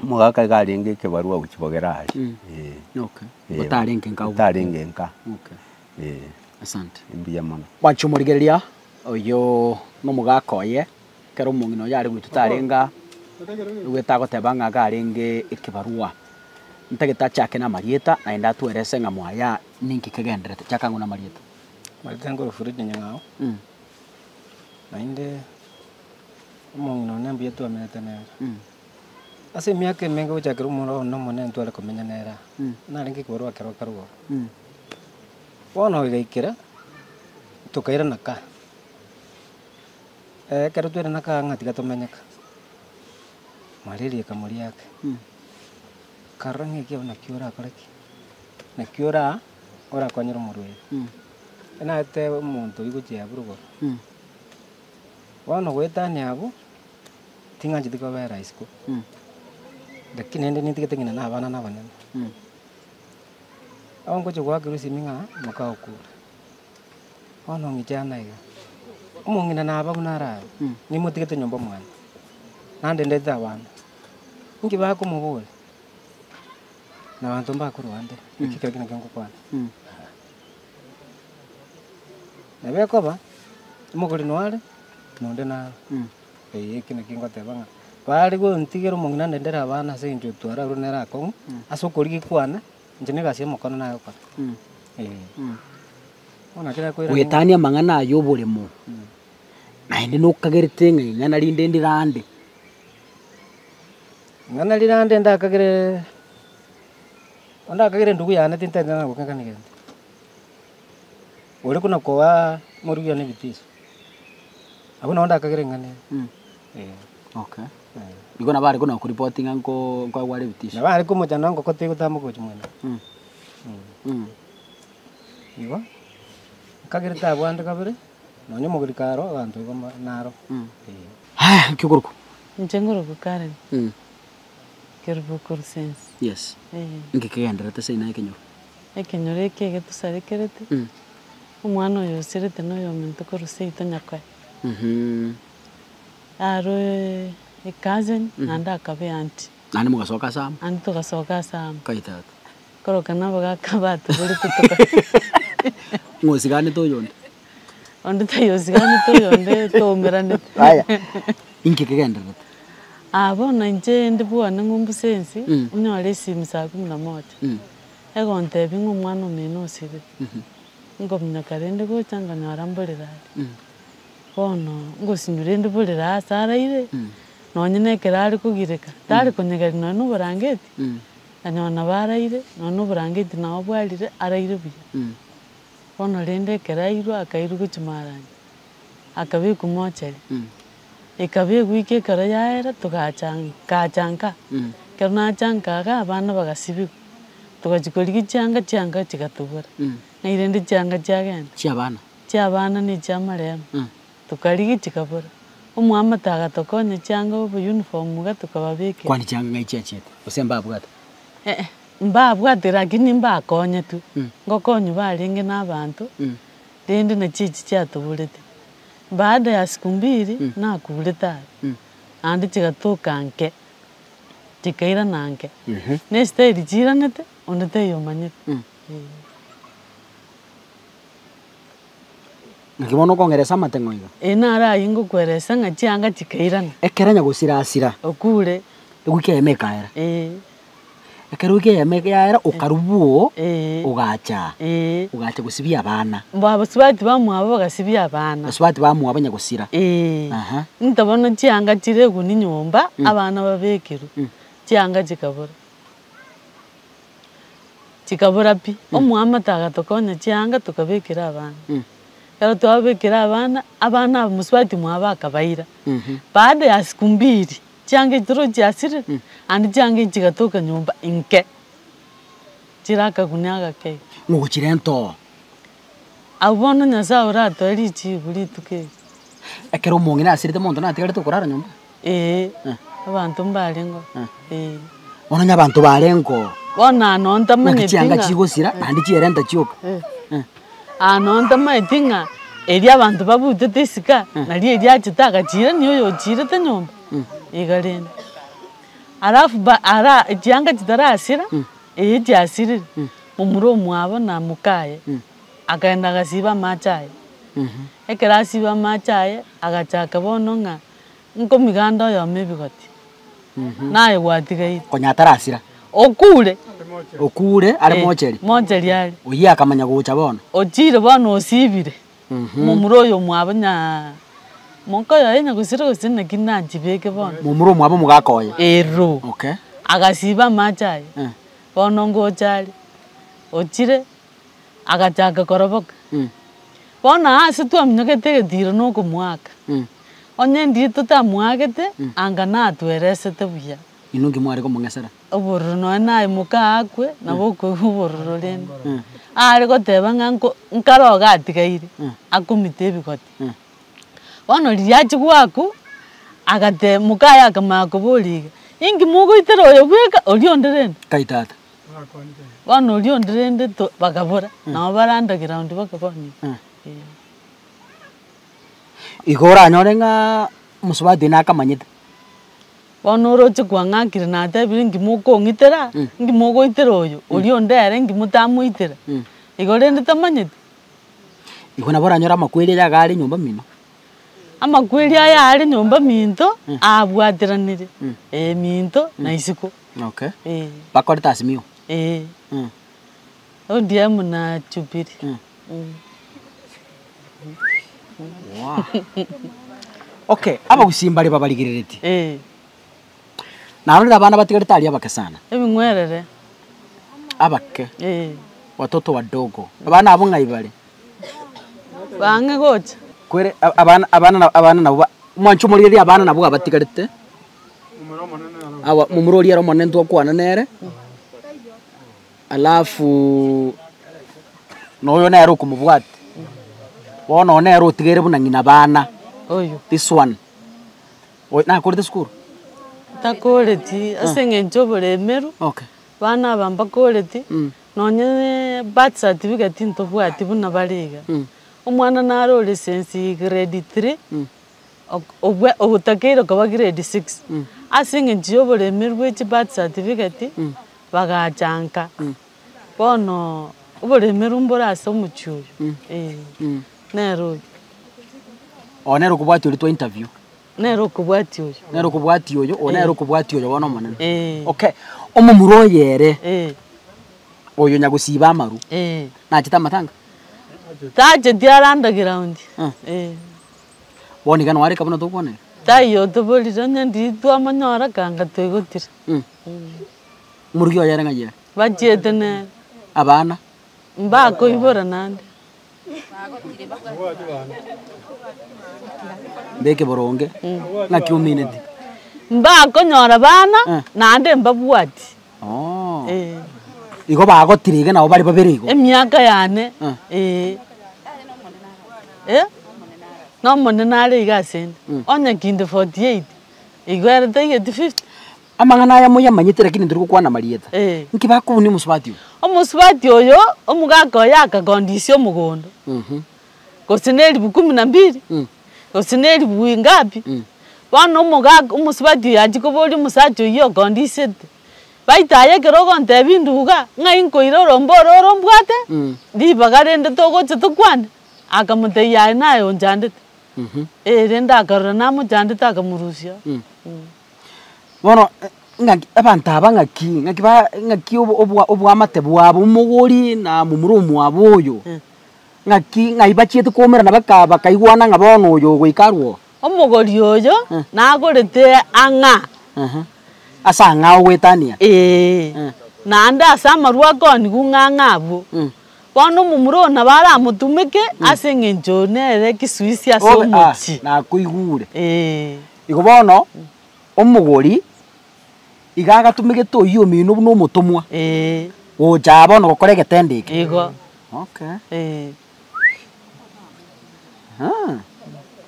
Omogaka iga arenge ekebarua gochia kogera aye. Eh. Okay. Eh, Otarenge nka ogo. Otarenge nka. Okay. Eh. Asante. Mbuya mono. Bwancha omorigereria oyo nomogaka oye ekero omong'ina oyo are goitwa tarenga egwete agoteba ng'a iga arenge ekebarua ntagete achake na amarieta naende atwerese ng'a mwaya ninki kegenderete. Chaka ang'u na amarieta. Amarieta nkorwa Fred Nyang'ao. Naende. Omong'ina one mbuya twamenete nere ase emiaka emenge gochakera omoro one omonene ntware komenya nere aa, narenge ekebarua ekero akarua ororo. Bono igaikera tokairana kaa, ekero twairana kaa ng'a tiga tomenye kaa, mambia rieka moriake, karora ng'a ekiagera naki orakore ki? Naki oraa orakonyere omorwaire, naetebe omonto oyio gochia aburugore. Bono goetania abwo ting'ancheti kobera isiko, lakini naende nintigete ng'ina na abana na abanene. Abo ngochia goa Kirisimi ng'a moka okure, bono ng'iche ang'e iga, omong'ina naba buna are aye, nimotigete nyomba mwane, naende ndetete abana. Inki bakomoboria? Nabanto mbakorwa ande, eki kera gento nkogokwana. Nabo ekoba, omogori noare, na onde naro. Ee, eki nakio ngoteba ng'a baare gontigera omong'ina nde ndere abana ase engencho etware arure nere akong'u, ase okorigia kwane, inche na egasi y'omokano nagokora. Ee. Bono naki nakoiraneria. Goetania amang'ana aya oboremo, naende nokagerete ng'a ing'ana rinde ndirande. Ing'ana rirande ndakagere. Onde akagera endugu yane tintenenerana gokegena negento, ore buna koa moruya nebitiso, agwo na onde akagera eng'ana eye. Eh, Okay. eh. Igo nabo are buna koripoti ng'a nko- nkwagwara ebitisio. Nabo are komochanda engoko tegotama ogochi mwene. Mm. Mm. Igo, akagera tabwate kabere, nonya omogori karo abanto igo ma- naro. Mm. Eh. Haya, nki okorokwa? Inche ngoroka Karen. Mm. Kerubu Colosensi. Yes. Eeh. Inki kegenderete seino ekenyoro? Ekenyoro eke getusarekerete, omwana oyo osiarete na oyominto korwa seito nyakoe. Mh. Aroe a cousin naende akabe auntie. Naende mogasoka ase amo. Naende togasoka ase amo. Kai tata. Koroka nabo gaka batuborete toka. Ng'osiganete oyonde. Onde taiyo osiganete oyonde twaumeranete. Aya, inki kegendererete? Ah bono inche inde bwane ng'umbu sensi, nyore esimi saa kumi na moja, egontebia ng'a omwana omino osibire, nkominyoka rende gocha nkonyora mborire aria. Bono ngosinywa rende mborire aria ase araire, nonye na ekero are kogireka, tare konyegeria nonye na oborangeti, nkanyora nabo araire, nonye na oborangeti nabo bwarire, araire buya. Bono rende ekero airwe akairigwa chimaranyi, akabekwa mochari. Ekabekwa iko ekero yaera togacha ngacha nka. Ekero nacha nka iga abana bagasibigwa, togachia korigia chianga chianga chigatobora. Ng'ai rende chianga chiagenda? Chiabana. Chiabana ne chiamarembe. Tokarigia chikabora. Omwamate agatokonya chianga obo uniform iga tokababekera. Kwani chianga ng'ai chiachiete? Gose mbabwate? Eeh. Mbabwate lakini mbakonyetwe, ngokonywa barenge nabanto, rende na chichi chiatuburete. Baada ya siku mbiri nakurete are, naende chigatuka nke, chikairana nke. Nestaili chiiranete, onde taiyo omanyete. Naki bono okong'eresa amateng'o iga. Ee naro ayio ngokueresa ng'a chianga chikairana. Ekero nyagosira asira. Okure. Egwiki yaye nekaera. Ee. Ekero ekiagera yaima egiagera okarubwa oo, Eh. ogacha aa, Eh. ogacha gosibia abana. Mbu abasubati bamwabo bagasibia abana. Abasubati bamwabo onye gosira. Eh. Aha. Into bono chianga chireguni nyomba, abana babekerwe. Mm. Chianga chikabora. Chikabora pi. Omwamate agatoka onye chianga tokabekera abana. Mm. Ekero twabekera abana, abana abasubati mwabo akabaira. Mhm. Baada ya siku mbiri, Chianga chitoro chiasire and chianga echi chigatoka nyomba inke chire akaguni agakei. Mogochirenta oo. Abwo bono Nyasae oratoe richiigu rituko eri. Ekero omong'ina asirete monto natigarete okorara nyomba? Ee. Abanto mbarengeo. Ee. Bono onye abanto barengeo. Bono aa nontamanyeti ng'a. Naki chianga chigosira naende chierenta chioka. Ee. Aa nonya ntamanyeti ng'a erio abanto babutete esika nario erio achete agachirania oyo ochirete nyomba iga rende. Alafu ba ara chianga chitarasira eyi chiasirire momura omwabo na mokaye akagenda agasiba amache aye ekero asiba amache aye agachaka bono ng'a. Nkomiganda oyomo ebigoti, naye gwatigaire. Konya atarasira. Okure. Okure are mocheri. Eh, mocheri are. Oyio akamanya gocha bono. Ochire bono osibire. Momura oyo omwabo nya moka oyo aye nyagosira gose naki nachibeke bono. Momura omwabo omogaka oye. Ero. Okay. Agasiba amache aye. Eh. Bono ngocha are. Ochire. Agachaka koroboka. Bono aase twaminyokete egetiiro na okomoaka. Onye ndiri totamoagete, anga natweresete buya. Inwe inki mware komong'esera? Obororo nonya naye moka akwe, nabo okoigwa obororo rende. Aare goteba ng'a nkare oga atigaire, akomita ebigoti. Bono riria achia goakwa, agate moka aye akamanya koboria iga, Inki mogoitera oyo bweka, oria onde rende? Kai tata. Bono oria onde rende to bakabora, nabo bare underground bakabwani Eh. eh. Igo oranyore ng'a mosubati oyio nakamanyete. Bono oroche kwang'akire natebire ngima okong'itera, Mm. ngima ogoitera oyo, oria onde ere ngima otamoitera. Mm. Igo rende tamanyeti. Igo nabo oranyore amakweri aye iga are nyomba mino. Amakweri aya aare nyomba minto aabwateranire, ee, minto na isiko. Okay. Ee. Bakorete Azimio. Ee. Mm. ODM na Jubilee. Mm. Mm. Wow. okay, abagusii mbare babarigereretie. Ee. Narorire abana batigarete aria abake sana. Ebing'werere. Abake. Ee. Watoto wadogo. Abana abo ng'ai bare? bang'e gocha. Kwere abana abana abana nabo ba mwanche omorieria abana nabo abatigarete aba momura oria ere omonene ntokwana nere, alafu na oyo nere okomobwate bono oyo nere otigaire buna ng'ina bana Oyo. this one oyo nakorete sukuru? Takoreti ase eng'encho oboremeru, okay bana aba mbakoreti, Nonya birth certificate tintobwati buna bare iga. Omwana nare ore since grade three ogotakeire okaba grade six. Ase eng'encho ya oboremeri bwa echi birth certificate bagachanka bono oboremeru mbore ase omochie oyo. Nere oyo. Ogo nere okobwati oria twa interview. Nere okobwatia oyo. Nere okobwatia oyo, oyo nere okobwatia oyo bono omonene. Eeh. Okay, omomura oyo ere, Eeh. oyo nyagosiba amaru, Eeh. nachete amatanga? Tacheti are underground. Eeh. Eeh. Bono iga noareka buna tokwoneka? Taiyo otoborire onye ndiri twamonyora kanga toigotire. Eeh. Morugi oye ere ng'ai ere? Bachiete nere. Abana? Mbakoibora naende. Mbeke boronge ng'aki omineti. Mbakonyora bana Eh. naende mbabwati. Oo. Eh. Igo bagotire iga nabo bare babere igo. Emiaka yane. Eh. Eh. Eh? Nomonene are iga asende. Onye kinde 48, igo ere taigeti 50. Amang'ana aya moyamanyete, lakini ntori gokwana amarieta. Eh. Inki bakobunia omosubati oyo? Omosubati oyo, omogaka oye akagondisia omogondo, Mhm. gose na elifu kumi na mbili, Mm. gose na elifu ingapi, Mm. bono omogaka omosubati oyo achia koboria omosacha oyio ogondisete. Baito aye ekero ogontebia induga, ng'ai nkoire orombe oro orombwate, Mm. ribaga rende togocha tokwane, akamotebia aye naye onchandete. Mhm. Eh, rende akarora namochandete akamorusia. Mm. Bono ng'aki abanto aba ng'aki, ng'aki ba ng'aki obo obwa obwamate bwabo omogori na momura omwabo oyo, ng'aki ng'ai bachiete koumera na baka bakaigwana ng'a bono oyo ogoika arwo oo. Omogori oyo Eh. nagorete ang'a. Ehe, ase ang'a ogoetania. Eeh. Eh. Naende ase amarwa akonigu ng'ang'a abwo. Mm. Bono omomura oo nabo aramotumeke ase eng'encho nere kisuisi ase Obe- ah, omochie. nakoigure. Eeh. Igo bono omogori iga agatumegete oyio omino buna omotomwa Eeh. gocha aa bono gokora egetendo eke. Igo. Okay. Eeh. Aa,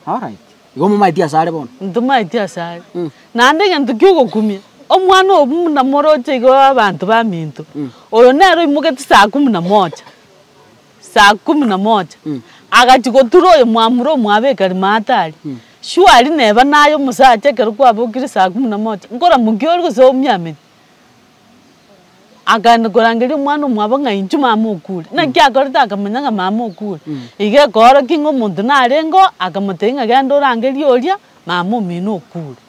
alright. Igo momaeti ase are bono? Ntomaeti ase are. Mm. Naende egento kia ogokumia, omwana oyo buna moroche iga oe abanto baminto. Mm. Oyo nere oimogetie saa kumi na moja. Saa kumi na moja, agachia gotura oyo mwamura omwabe ekarimaata aria. Shwari neba naye omosacha ekero kwabokire saa kumi na moja, nkoramokia ore gose oumia amenyo? Akaenda korangeria omwana omwabo ng'a inche mama okure. Naki akorete akamanya ng'a mama okure. Iga ekoorokia ng'a omonto narengeo, akamotebia ng'a genda orangerie oria mama omino okure.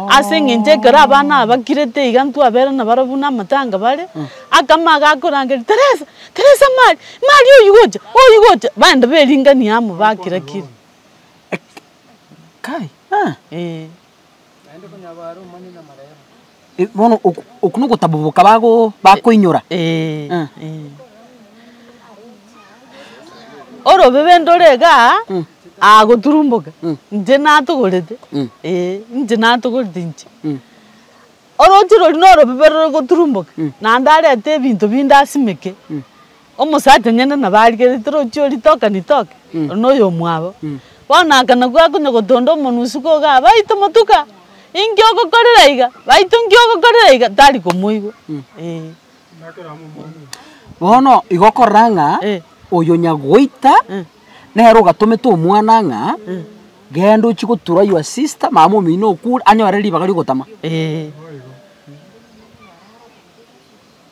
Ase engencho ekero abana aba bakirete iga intwe abere nabare buna amatanga bare, akamo aga akorangeria, Teresa, Teresa Mari, Mari oyio gocha, oyio gocha, baenda beringania amo bakira kire. Kai, eh. Eh, bono oku- oku nogotaboboka bago- bakoinyora Eh, Ah. eh. Orobebe ndore igaa Mm. agoturumboka Mm. inche natogorete Mm. Eh, inche natogorete inche Mm. oroche rori norobebe rore goturumboka Mm. naende arete ebinto binde asimeke Omosacha onye nene nabo arigereti rochio ritoke ritoke, ore noyomwabo, bono akana gwa konya gotonda omonwe isiko iga aa baito motuka, inki ogokorera iga, baito nki ogokorera iga, tari komoigwa eeh. Bono igo okorora ng'a Eh. oyo nyagoita Eh. nere ogatomete omwana ng'a genda ochie gotura your sister mama omino okure anyore ribaga rigotama. Eeh.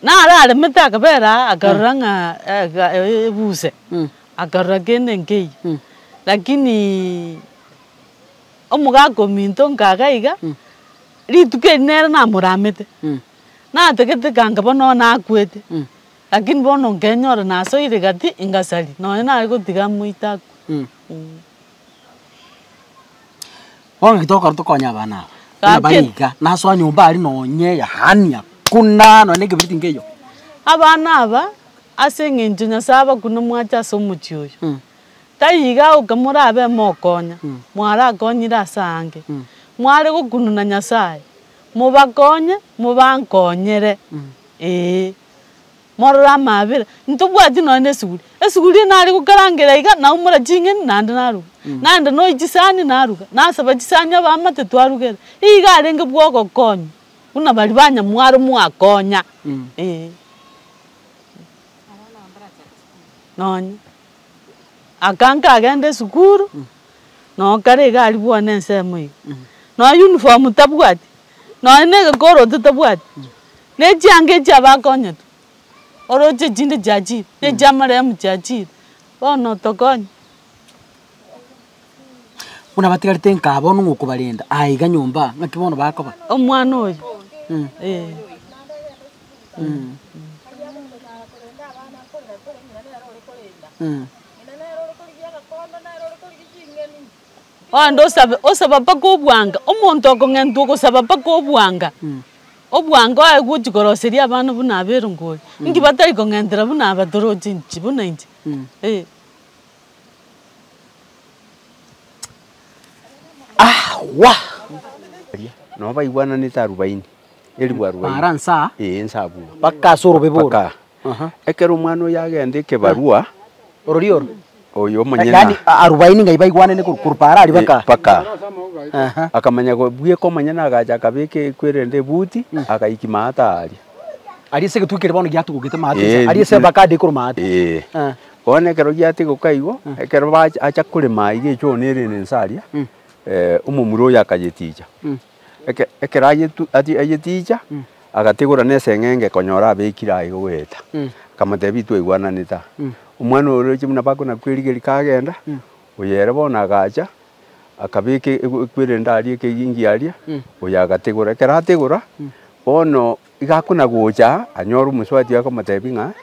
Nararemete akabera aa akarora ng'a ebuse, akarora kende nkeyio, lakini omogaka ominto nkaga iga, rituko eri nere namoramete, natagete kanga bono bono akwete, lakini bono nkenyora nasoire gati ingasari, nonye nare gotiga amoite akwe. Bono naki togokora tokonye abana aba, buna Gaki- bari iga, nasoa nyomba aria nonye yaani hakuna nonye na ekeberiti nkeiyo. Abana aba, ase eng'encho Nyasae abakune mwache ase omochie oyo, Mm. taiyo iga agoka morabe mokonya, mwarakonyire ase aange. Mware gokununa Nyasae, mobakonye, mobankonyere, ee. Morore amaabera, ntobwati nonya nesuguri. Esuguri nare gokarangera iga, naumora ching'eni naende naruga. Naende noyi chisani naruga, nasaba chisani abaamate twarugera. Iga arenge bwa ogokonywa, buna baria banyamwaro mwakonya eh. Nonya. Aka nkagenda esukuru, noyo kare iga aria bwane ensemo iga. Nonya uniform tabwati, Nonya negekoro totabwati, nechianga echi abakonyete, oroche echinde chiachire, nechiamarehemu chiachire, bono tokonye. Buna batigarete nkaa bono ng'a okobarenda aa iga nyomba aa, ng'aki bono bakoba? Omwana oyo eeh. Onde osabe, osaba mpaka obwanga. Omonto okong'entwa ogosaba mpaka obwanga, obwanga oye gochia koroseria abana buna aba erongori. Inki batari kong'entera buna aba toroche inche, buna inche? Eh. Awa! Baria, nabo baigwananete arubaini, eribu arubaini. Baara nsaa? Ee, nsaa buna. Mpaka ase orobebe oro. Mpaka aa. Ekero omwana oyo agenda ekebarua, Ororio oro. oyo omonyene Yaani a- arubaini ng'ai baigwanene korwa korwa paara aria baka. mpaka Aha. akamanya ko- bweka omonyene agacha akabeka ekwe erende ebuti agaiki maata aria. Aria ase egetwe kere bono giatugokete maate Eh, nsa. Aria ase na- bakade korwa maate. Ee. Ah. Bono ekero giatigoka igo, ekero bacha acha korema iga echooni erende nsa aria, eh, omomura oyo akayeticha. Eke, ekero ayetu, ati, ayetiicha, Mm. agatigora neseng'enge konyora abekire aye goeta. Mm. Akamotebia, Twaigwananete aa. Mm. Omwana oyo oroche buna bako na kwerigeria kagenda, Mm. oyo ere bono agacha, akabeka e- e- ekwere ende aria, ekegingi aria, Mm. oyo agatigora. Ekero atigora, Mm. bono Iga akona gocha, anyore omosubati oye akamotebia ng'a,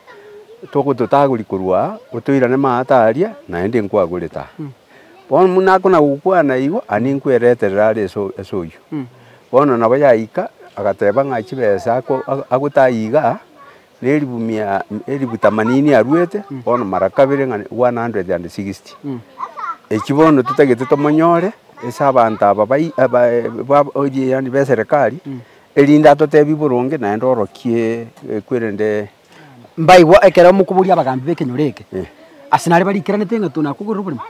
Toko totagori korwa aa, otoirane maata aria, naende nkwagorete aa. Bono buna akona gokwana igo, ani nkwereterere are ase ase oyio. Bono nabo yaika, agateba ng'a chibesa ako- a- agotayia igaa, na elifu mia elifu themanini aruete, bono mara kabere ng'a one hundred and sixty. Echio bono totagete tomonyore ase abanto aba bai abae ba oria yaani ba eserekari, Erinde atotebie boronge naende orokie kwerende Mbaigwa ekero mokoboria abagambi b'ekenyoro eke, Ase nare barikeranete ng'a tonakogerera oborimo?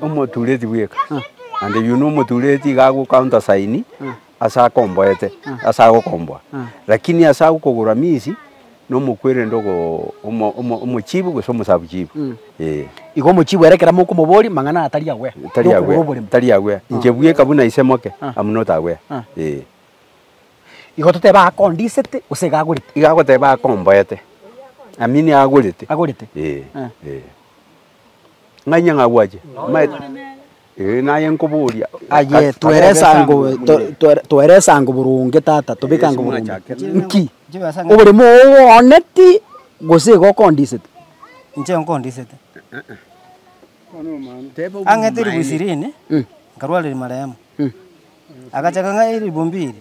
omotureti bweka, naende oyio nomotureti iga agocounter sign ase akomboete ase agokomboa. Lakini ase agokogora minsi. Nomokwerende ogo omochibi gose omosabu chibi, ee. Igo omochibi ere kera mokomoboria mang'ana atari agwea, tari agwea, tari agwea, inche bweka buna ise moke, am not aware, ee. Igo totebe akondisete gose iga agorete? Iga agoteba akomboete, I mean agorete, agorete, ee, ee. Ng'ainyang'a agwache, manye. Ee, naye nkoboria, Aye toeresango toeresango boronge, tata, tobekango boronge. Nki? Oborimo ooneti gose igo okondisete? Inche nkondisete. Ang'ete eribu ishirini, nkarwara rimarehemu. Agachaka ng'a eribumbi eri.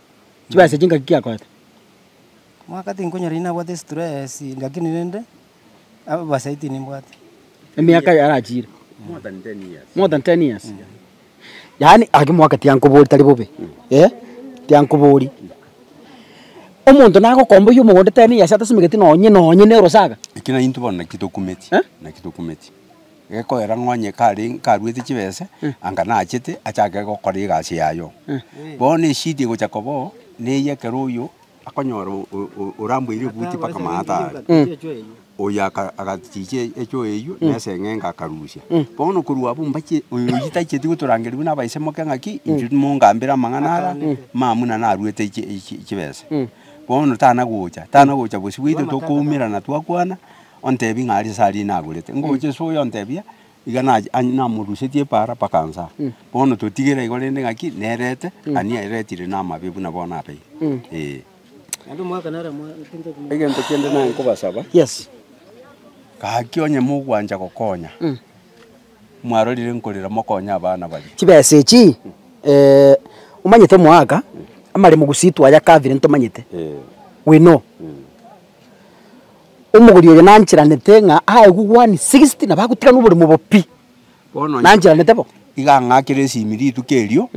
Chibesa echi ngaki ki akoete? Omwaka tinkonyora inwe nabwate stress, lakini rende, ababasai tinimbwati. Emiaka yarachiire. More than ten years. More than ten years. Yaani ake omwaka tiankobori tari bobe, eh, tiankobori. Omonto nagokomboyia omogondo ten years atasimegeti nonye nonye na erosaga. Ekio naintwe bono naki tokumeti, Eh? naki tokumeti. Gekoera ng'a onye kare nkaruete chibese, anga nachete achake gokora egasi yaye oo. Bono eshida egocha koba oo, neye ekero oyio akonyora o- o- o- oramboire ebuti mpaka maata aria, oyio aka agachicha e- echoa eyio na eseng'enga akarusia. Bono korwa abwo mbache oyo oyio tacheti gotorangerigwa na abaise moke ng'aki, inchuo timongambere amang'ana ara, mamuna naruete chi- chi- chibese. Bono tana gocha, tana gocha bosio bweito tokoumerana twakwana, ontebi ng'a aria sari nagorete, ngocha ase oyo ontebia, iga nache an- namorusetie epaara mpaka anse aa. Bono totigere igo rende ng'aki nerete, ani eretire namabe buna bono abeire. Ee. Egento kende nanye nkobasaba, Yes. gaki onye mogwancha gokonya, mwarorire nkorera mokonye abana baria. Chibesa echi, omanyete omogaka, amaremo gusii twayakabire ntomanyete, Ee. we know. Omogori oyo nancheranete ng'a ae gugwani sixty nabo agotigana oboremo obo pi. Bono onye Nancheranete bo. Iga ang'akera esimi rituko erio,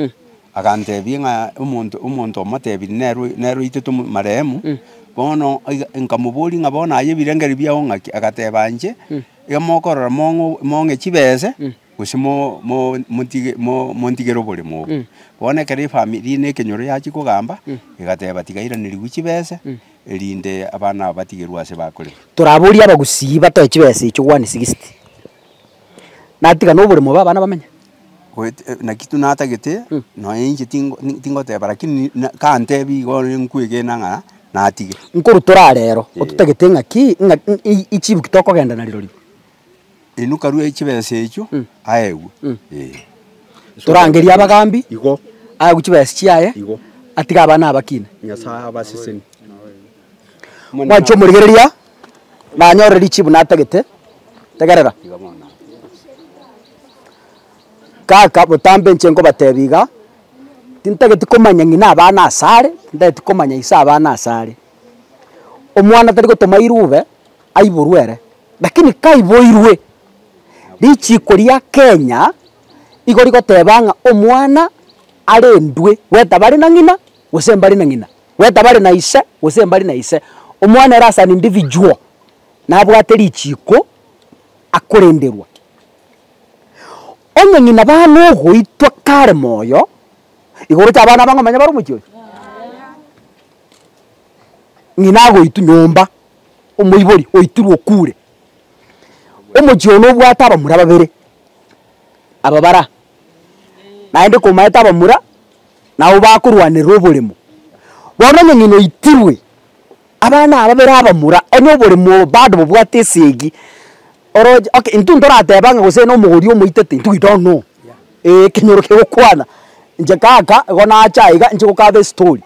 agantebia ng'a omonto omonto omotebirie nere oy- nere oitete omo marehemu, bono iga nkamoboria ng'a bono aye ebirengererio biago ng'aki? Agateba inche, iga mokorora mong'o mong'e chibese, gose mo mo motige mo montigere oboremo obo. Bono ekero efamiri na ekenyoro yachia kogamba, egateba tiga airaneriwu chibese. erinde abana aba batigerwe ase bakore. Toraborie abagusii batoe chibesa echio one sixty natiga noboremo bwa abana bamenye. Goet- eh, naki tu natagete nonya inche tingo ni- tingoteba lakini na kantebi igo bono nkwegena ng'a natige. Nkorutora arero, ototagete ng'aki ng'a i- i- ichibuki tokogenda na rirorio. Inwe karue e chibesa echio aegwe. Ee. Torangerie abagaambi, Igo aegwe chibesa chiaye, Igo. atige abana abakina. Nyasae abaseseni. Mwanche omorigereria, na anyore richibu natagete. Tegerera. Iga bono. Kaka botambe inche nkobateebia iga, tintageti komanya ng'ina abana ase are, tintageti komanya ise abana ase are. Omwana tari gotoma irube, aiborwe ere. Lakini kaiboirwe richiiko ria Kenya igo rigoteba ng'a omwana arendwe gwetabare na ng'ina gose mbare na ng'ina, gwetabare na ise gose mbare na ise, omwana ere as an individual nabwate richiiko akorenderwa. Onye ng'ina bana ogoitwa kare moyo, igo oroche abana aba ng'omanye bare omochie oye? Ng'ina agoitwa nyomba. omoibori oitirwe okure. Omochie oo nobwate abamura babere, aba bara naende komaete abamura nabo bakorwanerera oboremo. Bono onye ng'ina oitirwe, abana ababere abamura, onye oboremo obo bado bobwate esegi, oroche okay intwe ntorateba ng'a gose nomogori omoitete intwe we don't know, eeh ekenyoro kegokwana inche kaka igo nacha iga inche gokaba estory.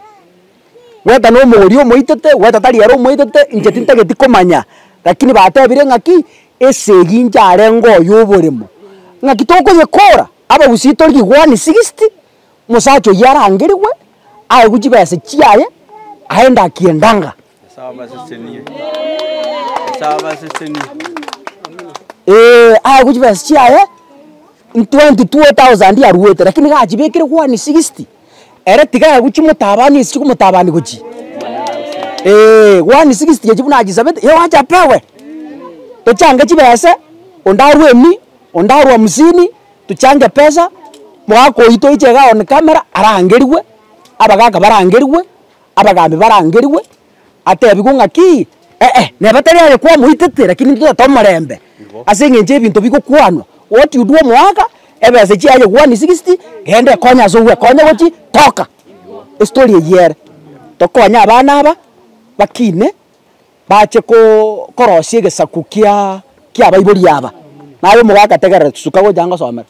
Gweta nomogori omoitete, gweta tari ere omoitete, inche tintageti komanya. Lakini batebire ng'aki, Esegi inche arenge oyo oboremo. Ng'aki tokoyekora? Abagusii tori riguani sixty, mosacha oyio arangerigwe, aegwe chibesa chiaye, aende akie endanga. Ee, aegwe chibesa chiaye. Ntwenti two tausandi aruete, rakini nigo achibekire one sigisti, ere tiga agochimotabania ase chikomotabani gochia, eeh, one sigisti echio buna achisabete, ye oache apewe, tochange chibese, onde arue emi, onde arue hamsini, tochange pesa, mogaka oyio toiche iga one camera, arangerigwe, abagaka barangerigwe, abagambi barangerigwe. atebigwe ng'aki, ee, neba tari aye kwamoitete, rakini intwe totete omorembe, ase engencho y'ebinto bigokwanwa, what you do omoaka, ebesa echi yaye one sixty, genda ekonye ase ogwekonya gochi, toka. Estory eyio ere. Tokonye abana aba, bakine, bache ko- korosia egesaku kia kiabaibori aba, naye omoka agategerera chisuka gocha angosomera.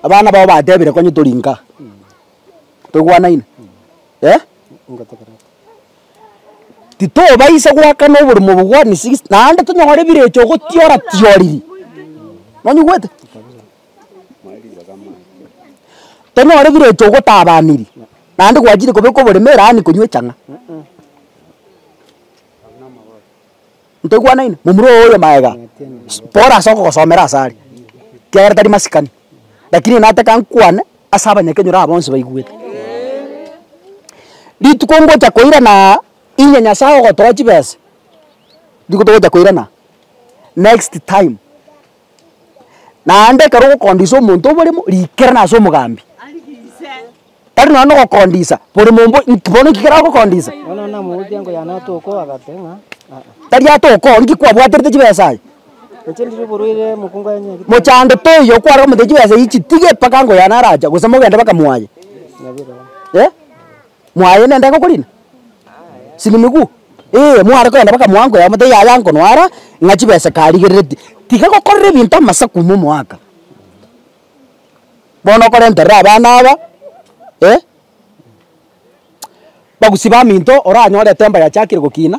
Abana bao batebire konye tori nkaa. Toigwanaine? Eh? Titobaisa goakana oborimo obo bwa ni six naende tonyore ebirecha ogotiora tioriri. Nonyigwete? Tonyore ebirecha ogotabaniri naende gwachire kobeka oboremere yaani konywa echang'a. Ntoigwanaine, momura oo oyo magega, bora ase okogosomera ase are, ekiagera tari masikani, rakini nataka nkwane ase abanyakenyoro aba bonsi baigwete. Rituko ngocha koiranaa inye Nyasae ogotoa chibesa, rituko togocha koiranaa, next time. Naende ekero ogokondisa omonto oboremo, riikerana ase omogambi. Tari nonya nogokondisa boremo obo inki bono inki kere agokondisa? Bono namogokia nkoyane atokoo agate ng'a, Aa. Tari atokoo, inki kwabwaterete chibesa aye? Inche ndiri oborwaire mokungu aye nyagete. Mochando toiyo kwarora omonto chibesa echi chitige mpaka nkoyane arache, gose mogende mpaka mwaye. Nabirobwo. Eh? Mwaye nende gokorina? Sinimigu? Ee, mware kogenda mpaka moango yamo taiyo aye ankonwara ng'a chibesa karigerereti. Tiga gokorera ebinto amasaku ime omoaka. Bono okorenterera abana aba, eh, bagusie baminto oranyore etemba yachakire gokina.